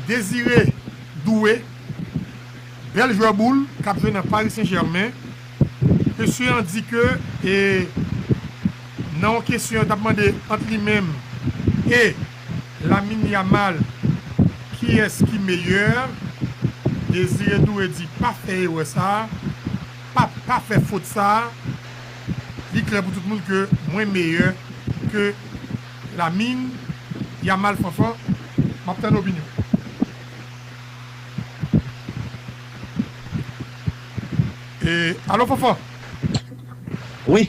Désiré Doué, bèl jwè boul k ap jwe nan Paris Saint Germain, ke sye an di ke nan yon kesyon yo t ap mande ant li menm e. Lamine Yamal kiyès ki meyè? Désiré Doué di pa fè erè sa, pa pa fè fot sa, li klè pou tout moun ke mwen meyè ke Lamine Yamal Fanfan map tann opinyon. Alo Fanfan! Wi!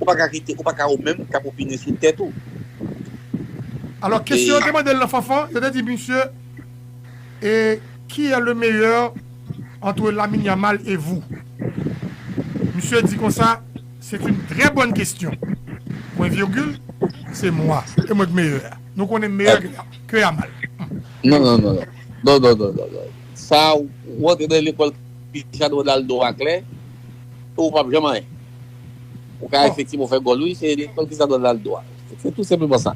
Ou pa ka kite, ou pa ka ou menm kap opine sou tèt ou. Alò kesyon yo te mande l nan Fanfan, yo te di misye e qui est le meilleur entre Lamine Yamal et vous? Misye di konsa, c'est une très bonne question, pwen virgil, se mwa, e mwen k meyè a. Nou konnen meyè ke Yamal. Non, non, non, non. Non, non, non, non, non. Sa ou antre nan lekòl Cristiano Ronaldo a klè, ou pap janm anyen. Ou ka efektivman fè gòl wi, se lèkòl ki sa dwa lal dwa. Se tou senpleman sa.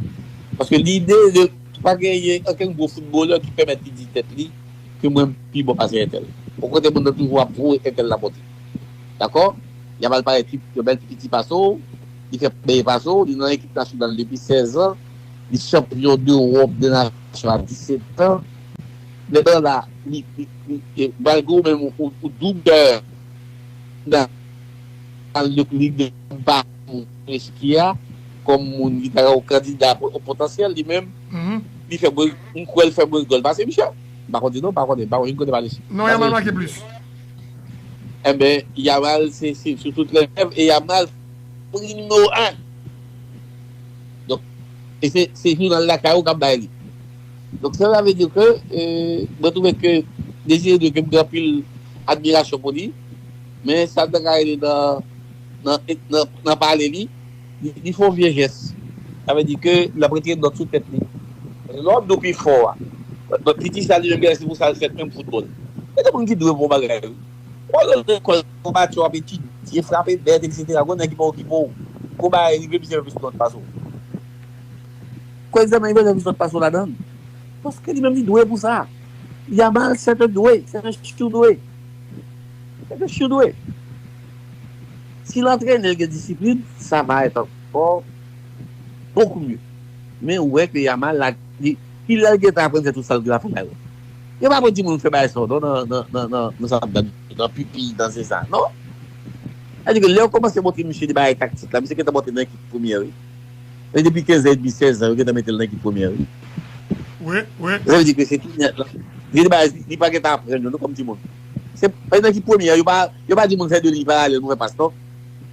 Paske lide de, pa genyen okenn gwo foutbolè ki pèmèt li di tèt li ke mwen pi bon pase entèl. Okontrè moun nan toujou ap voye entèl la monte. Dakò? Li ap al pale pi, yon bèl pi piti pase w, li fè meyè pase w, li nan ekip nasyonal depi 16 an, li chanpyon dewòp, de nasyon a 17 an. Nèg lan la, li, li, li, malgre ou menm ou doub dèyè, nan. Al de pou li de ba pou Zelensky a kòm moun ki ta ka yon kandida potansyèl li menm li fè bri m kwèl fè mwens gòl pase misye m pa konnen non m pa konnen m pa konn kote pale sou non yamal make plis enben yamal se se sou tout lè e yamal pri nimewo 1 donk e se se jounal lakay ou kap bay li donk sa sa vle di ke mwen twouve ke Désiré Doué ke m gen anpil admirasyon pou li. Men sa ta ka rele nan pale li, li fè yon vye jès. Sa vle di ke li ap retire nòt sou tèt li. Paske lè w ap di w pi fò a, lòt ki di sa li menm genlè se pou sa l fèt menm foutbòl. Gen de moun ki di w bon bagay wi. Ou al nan lekòl gon matyè w ap etidye, frape bèt eksetera gon nèg ki pa okipe w, gon bagay rive misye fè plis nòt pase w. Gon egzamen rive li fè plis nòt pase w ladan l. Paske li menm li dwe pou sa. Ya mal sèten dwe, sèten sitou dwe. Epi Shu dwe. Si l antrene l gen disiplin, sa va èt ankò bokou mye. Men ou wè ke Yamal la, li, ki lè l gentan aprann fè tout sa l gen la fè la yo? Yo pa pou di moun fè bagay sa yo non nan, nan, nan, nan, nan sa map tann, nan pipi, nan zeza, non. Sa vle di ke lè yo kòmanse montre misye de bagay taktik la, misye gentan montre nan ekip premyè wi. Se depi 15 an edmi 16 an yo gentan metel nan ekip premyè wi. Sa vle di ke se tou nèt lan. Li di bagay li pa gentan aprann yo non kòm timoun. Se nan ekip premyè yo pa yo pa di moun fè 2 liy paralèl pou fè pas non.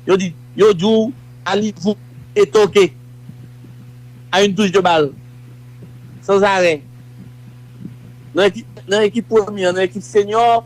Yo di yo di w allez-vous et toquez à une touche de balle sans arrêt nan ekip nan ekip premyè nan ekip senior.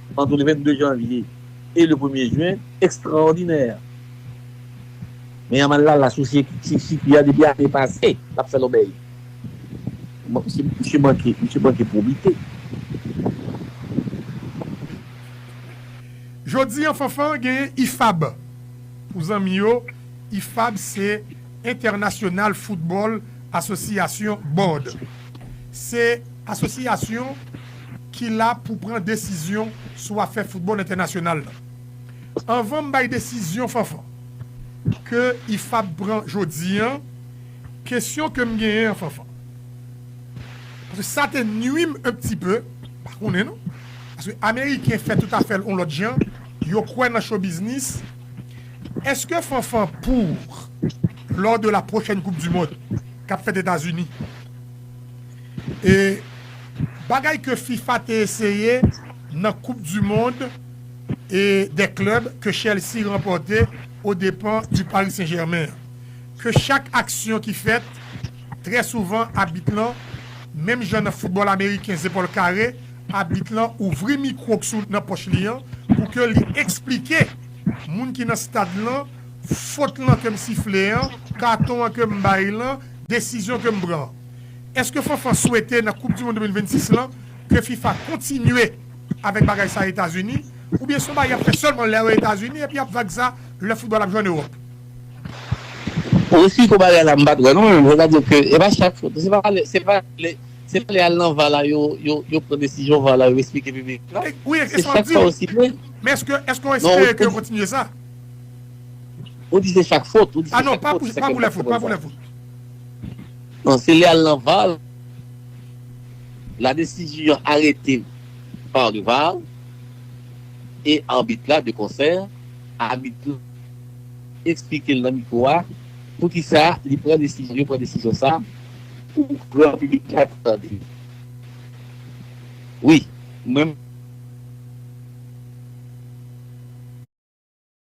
Antre le 22 janvye e le premye jen, ekstraòdinè! Men Yamal la la sou sikui a depi ane pase, l ap fè lòbèy. Misye manke pwobite. Jodi an Fanfan genyen IFAB. Pou zanmi yo, IFAB se International Football Association Board. Se asosiyasyon. ki la pou pran desizyon sou afè foutbòl entènasyonal lan. Anvan m bay desizyon Fanfan ke IFAB pran jodi an, kesyon ke m genyen an Fanfan, paske sa te nwi m un pti peu, m pa konnen non, paske ameriken fè tout afè l on lòt jan, yo kwè nan show business, eske Fanfan pour lors de la prochèn koup du mond k ap fèt Etazini, E bagay ke fifa te eseye nan koup du mond e dè klèb ke Chelsea ranpòte o depan du Paris Saint Germain an. Ke chak aksyon ki fèt, trè souvan abit lan, menm jan nan foutbòl ameriken zepòl kare, abit lan ouvri mikwo k sou nan pòch li an pou ke li eksplike moun ki nan stad lan fot lan ke m sifle an, katon an ke m bay lan, Desizyon ke m pran an. Eske Fanfan swete nan koup du mond 2026 lan ke fifa kontinye avèk bagay sa etazini oubyen son bagay yap fè sèlman lè yo etazini epi yap vag sa lè foutbòl ap jwe an ewòp? Ou esplike w bagay la m pat wè non mwen menm se ta di ke e pa chak se pa lè se pa lè se pa lè al nan var la yo yo yo pran desizyon var la yo esplike piblik la wi e se sa map diw men eske eske w espere ke yo kontinye sa? Ou di se chak fot. Ah non pa pou pa pou lè fout pa pou lè fout. Non se lè al nan var la desizyon arete par le var e arbit la de konsè abit la esplike l nan mikwo a pou ki sa li pran desizyon yo pran desizyon sa pou gran piblik la ka tande l wi mwen.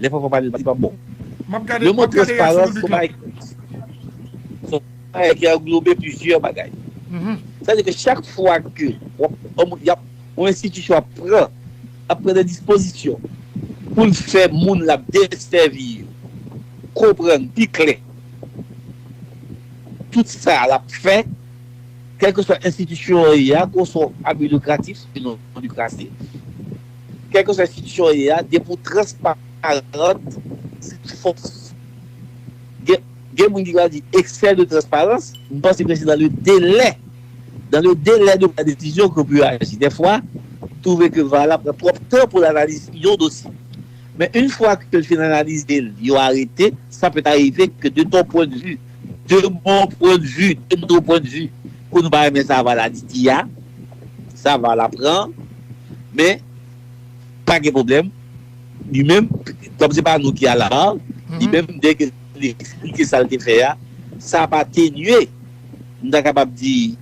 Lè fanfan pale li pa bon. Yon mo transparans son bagay ki anglobe plizyè bagay. Sa vle di ke chak fwa ke yon enstitisyon ap pran ap pran de dispozisyon pou l fè moun l ap desèvi yo konprann pi klè tout sa l ap fè kèlkeswa enstitisyon an ye a ke w se yon abi likratif e non likratif. Kèlkeswa enstitisyon w ye a, depi w transparant, se yon fòs. Gen moun ki pral di eksè de transparans, m panse ke se nan le delè, dans le délai de la décision ke w pe aji. Dèfwa, m twouve ke var la pran twòp tan pou l analize yon dosye. Men une fwa ke l fin analize l, yo arete, sa pèt arive ke de ton pwen de vi, de mon pwen de vue, de nos points de vue, ke nou pa renmen sa var la di a, Sa va la pran men pa gen pwoblèm li menm kòm se pa nou ki al la li menm dè ke li eksplike sa l te fè a sa pa tenye m ta kapab di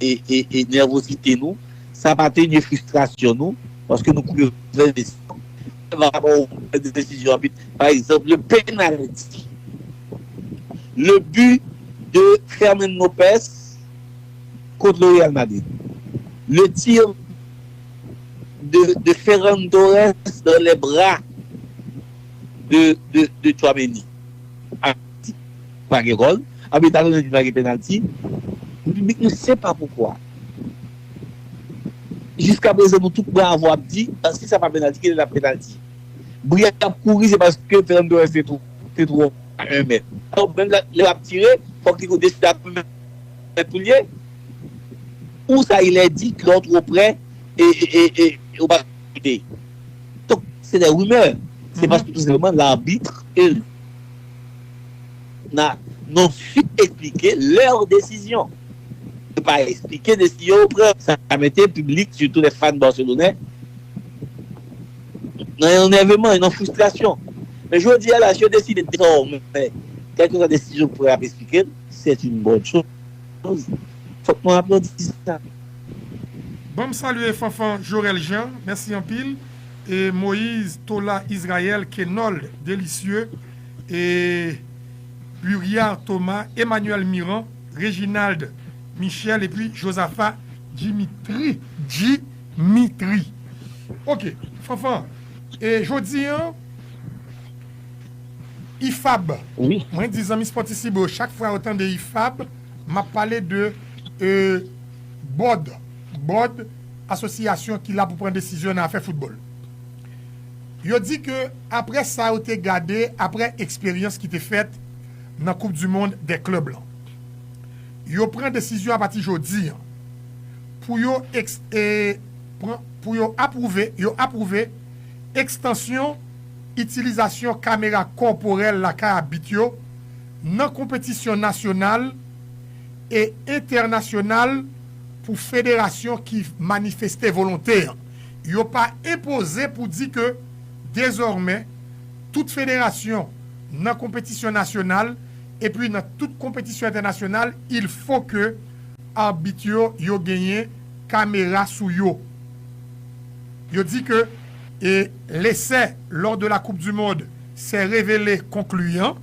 e nèvosite nou sa pa tenye fristrasyon nou paske nou pran yon desizyon sa va pran yon desizyon anpil pa egzanp le penalti le but de Fermin Lopez. kont le Real Madrid. Le tir de Ferran Torres dans les bras de Tchouaméni. Abit pa gen gòl. Abit la konnen li pa gen penalty. Piblik nou se pa poukwa. Jiska prezan nou tout bravo ap di si sa pa penalty kilè lap penalty. Bri a ap kouri se paske Ferran Torres te twò a 1 mèt. Menm lè lap tire fòk li deside ap. Mwen priye Ou sa ilè dit lè w two prè e ou pa koute Donk se des rumeurs Se paske tout senpleman l'arbitre e l na non fit esplike leur desizyon Yo pa esplike desizyon yo pran Sa mete piblik sitou les fans Barcelonè nan yon nèveman e nan frustrasyon Men jodi a la si yo deside dezòmè kèlkeswa desizyon yo pran y ap esplike l. C'est une bonne chose. Fok nou aplodi sa. Banm salye Fanfan Jorel Jean mèsi anpil e Moïse Tola Israël Kenold Delicieux e Buriard Thomas Emmanuel Miran Reginald Michel epi Josaphat Dimitri Dimitri ok Fanfan e jodi an Ifab Mwen di zanmi spòtisibo yo chak fwa yo tande ifab map pale de bòd bòd asosyasyon ki la pou pran desizyon nan afè foutbòl yo di ke aprè sa yo te gade aprè eksperyans ki te fèt nan koup di mond dè klèb lan yo pran desizyon apati jodi an pou yo pran pou yo apwouve yo apwouve ekstansyon itilizasyon kamera kòporèl lakay abit yo nan konpetisyon nasyonal e entènasyonal pou federasyon ki manifeste volonte yo pa enpoze pou di ke dezòmè tout federasyon nan konpetisyon nasyonal epi nan tout konpetisyon entènasyonal il fo ke arbit yo yo genyen kamera sou yo yo di ke E lese lors de la coupe du monde s'est revele concluant,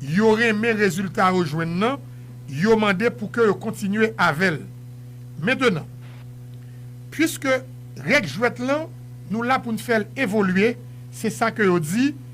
yo renmen rezilta yo jwenn nan, yo mande pou ke yo kontinye avè l. Mentenan, puiske règ jwèt lan nou la pou n fè l evolye, se sa ke yo di,